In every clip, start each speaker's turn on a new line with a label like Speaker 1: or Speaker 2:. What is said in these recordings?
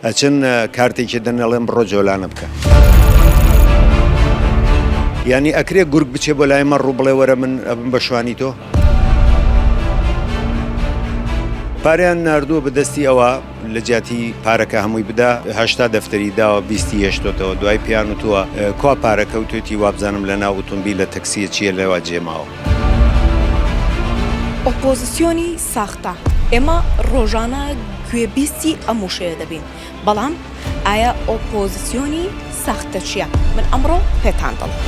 Speaker 1: ئەچن کارتێکی دەن ئەڵێن بڕۆ جۆلانە بکە. یانی ئەکرێ گورگ بچێ بۆ لای مەڕ و بڵێ وەرە من ئەبم بە شوانی تۆ. پاریان نردووە بەدەستی ئەوە لە جیاتی پارەکە هەمووی بدا هشتا دەفتەری داوە بیستی هێشتۆتەوە دوای پیان و تووە کوا پارەکە و توێتی وابزانم لە ناو ئۆتۆمبیل لە تەکسیە چیە لەوا جێماوە.
Speaker 2: ئۆپۆزسیۆنی ساختە، ئێمە ڕۆژانە گوێبیستی ئەم وشەیە دەبین، بەڵام ئایا ئۆپۆزسیۆنی ساختە چییە؟ من ئەمڕۆ پێتان دەڵێم.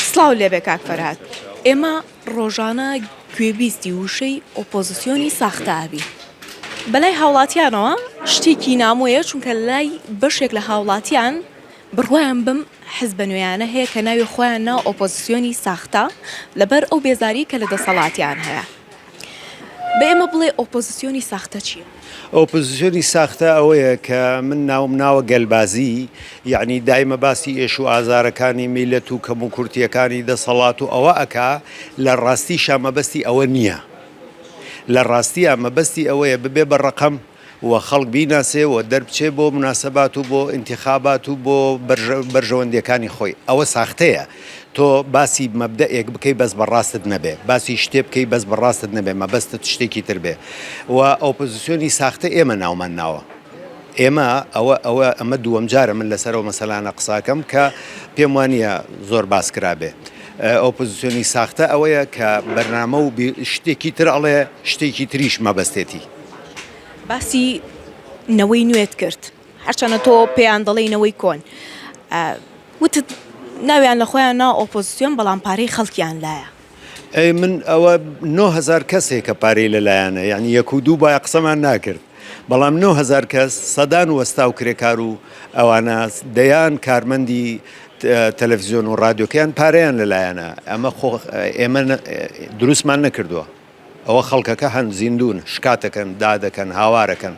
Speaker 2: سڵاو لێبێ کاک فەرهاد، ئێمە ڕۆژانە گوێبیستی وشەی ئۆپۆزسیۆنی ساختە ئەبی. بەلای هاوڵاتیانەوە شتێکی نامۆیە چونکە لای بەشێک لە هاوڵاتیان بڕوایان بەم حزبە نوێیانە هەیە کە ناوی خۆیان نا ئۆپۆزسیۆنی ساختە لەبەر ئەو بێزاری کە لە دەسەڵاتیان هەیە بە ئێمە بڵێ ئۆپۆزسیۆنی ساختە چیە؟ ئۆپۆزسیۆنی
Speaker 1: ساختە ئەوەیە کە من ناوم ناوە گەلبازی یعنی دایمە باسی ئێش و ئازارەکانی میلەت و کەم و کورتیەکانی دەسەڵات و ئەوە ئەکا لە ڕاستی شامەبەستی ئەوە نییە لە ڕاستیە مەبەستی ئەوەیە ببێ بە ڕقم و خەڵک بیناسێ و دەربچێ بۆ مناسەبات و بۆ ئینتیخابات و بۆ بەرژەوەندیەکانی خۆی ئەوە ساختەیە تۆ باسی مەبدەئێک بکەی بەس بە ڕاستت نەبێ باسی شتێ بکەی بەس بە ڕاستت نەبێ مەبەستت شتێکی تر بێ و ئۆپۆزسیۆنی ساختە ئێمە ناومان ناوە ئێمە ئەوە ئەوە ئەمە دووەم جارە من لەسەر ئەو مەسەلانە قساکەم کە پێم وانە زۆر باس کرابێ ئۆپۆزسیۆنی ساختە ئەوەیە کە بەرنامە و شتێکی تر ئەڵێ شتێکی تریش مەبەستێتی باسی
Speaker 2: نەوەی نوێت کرد هەرچەنە تۆ پێیان دەڵێی نەوەی کۆن وتت ناویان لە خۆیان نا ئۆپۆزیسیۆن بەڵام پارەی خەڵکیان لایە. ئەی من
Speaker 1: ئەوە نۆ هەزار کەسێک کە پارەی لەلایانە یعنی یەک و دوو بایە قسەمان ناکرد بەڵام نۆ هەزار کەس سەدان وەستا و کرێکار و ئەوانە دەیان کارمەندی تەلەڤزیۆن و ڕادیۆکەیان پارەیان لەلایەنە ئەمە خۆ ئێمە دروستمان نەکردووە. ئەوە خەڵکەکە هەن زیندوون شکاتەکەن دادەکەن هاوارەکەن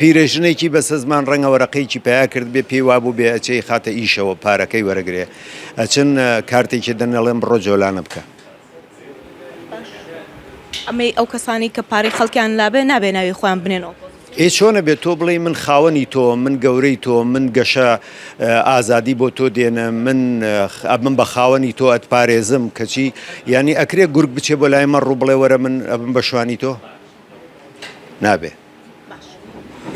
Speaker 1: پیرەژنێکی بەسەزمان ڕەنگە وەرەقەیەکی پیا کرد بێ پێی وابوو بێ ئەچەی خاتە ئیشەوە پارەکەی وەرەگرێ ئەچن کارتێکی دەنەڵێن بڕۆ جۆلانە بکە
Speaker 2: ئەمەی ئەو کەسانی کە پارەی خەڵکیان لابێ نابێ ناوی خۆیان بنێنەوە ئێ چۆنە بێت تۆ بڵێی
Speaker 1: من خاوەنی تۆم، من گەورەی تۆم، من گەشە ئازادی بۆ تۆ دێنم، من ئەبم بە خاوەنی تۆ ئەتپارێزم، کەچی یانی ئەکرێ گورگ بچێ بۆ لای مەڕ و بڵێ وەرە من ئەبم بە شوانی تۆ؟ نابێ. باش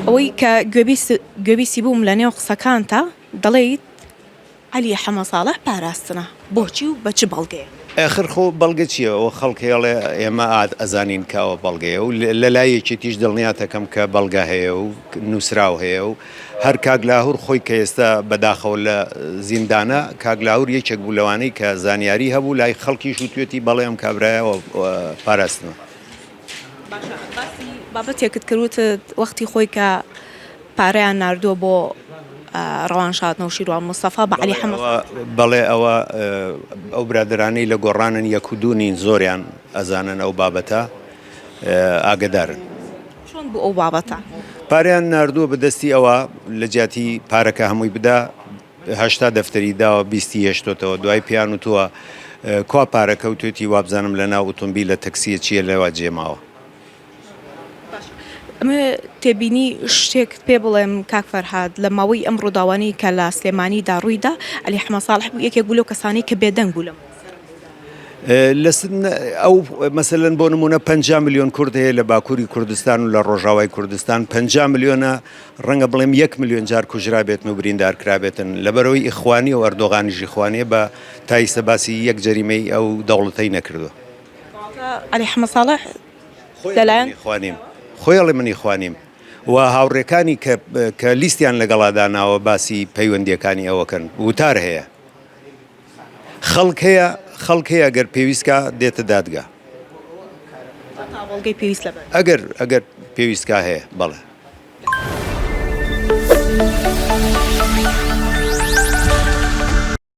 Speaker 2: ئەوەی کە گوێبیست گوێبیستی بووم لە نێو قسەکانتا دەڵێیت، عەلی حەمە ساڵح پاراستنە بۆچی و بە چ بەڵگەیەک؟ ئاخر خۆ بەڵگە
Speaker 1: چیە؟ ئەوە خەڵک ئێڵێ ئێمە ئەزانین کە ئەوە بەڵگەیە و لە لای یەکێتیش دڵنیاتەکەم کە بەڵگە هەیە و نووسراو هەیە و هەر کاک لاهور خۆی کە ئێستا بەداخەوە لە زیندانە کاک لاهور یەکێک بوو لەوانەی کە زانیاری هەبوو لای خەڵکیش وتوێتی بەڵێ ئەم کابرایە پاراستنە. باشە
Speaker 2: باسی بابەتێکت کرد وتت وەختی خۆی کە پارەیان ناردووە بۆ ڕەوانشاد نەوشیروان مستەفا بە عەلی حەمە بەڵێ ئەوە
Speaker 1: ئەو برادەرانەی لە گۆڕانن یەک و دوو نین زۆریان ئەزانن ئەو بابەتە ئاگدارن چۆن
Speaker 2: بوو ئەو بابەتە؟ پارەیان ناردووە
Speaker 1: بە دەستی ئەوە لە جیاتی پارەکە هەمووی بدا، هەشتا دەفتەری داوە بیستی هێشتۆتەوە دوای پێیان وتووە کوا پارە کەوتێتی وابزانم لە ناو ئوتومبیلە تەکسیە چیە لەوا جێماوە.
Speaker 2: ئەمە تێبینی شتێکت پێ بڵێم کاک فەرهاد لە ماوەی ئەم ڕووداوانی کە لە سلێمانیدا ڕوویدا علی حمە ساڵح بوو یەکێک بوو لەو کەسانی کە بێدەنگ بوو لەم
Speaker 1: ئەو مەسەن بۆ نمونە 5 میلیۆن کورد هەیە لە باکووری کوردستان و لە ڕۆژاوای کوردستان 5 میلیۆنە ڕەنگە بڵێم یەک ملیۆن جار کوژرابێتن و بریندارکرابێتن لەبەرەوەی ئیخوانی و ئەردۆغانیش ئیخوانیە بە تایسە باسی یەک جەریمەی ئەو دەوڵەتەی نەکردوە. واتە
Speaker 2: عەلی حەمە ساڵح لەلایەن ئیخوانیم.
Speaker 1: خۆی ئەڵێ من ئیخوانیم و هاوڕێکانی کە کە لیستیان لەگەڵا داناوە باسی پەیوەندیەکانی ئەوەکەن وتار هەیە. خەڵک هەیە خەڵک هەیە گەر پێویست کا دێتە دادگا. تا تا بەڵگەی پێویست لە بەر.
Speaker 2: ئەگەر
Speaker 1: ئەگەر پێویست کا هەیە بەڵێ.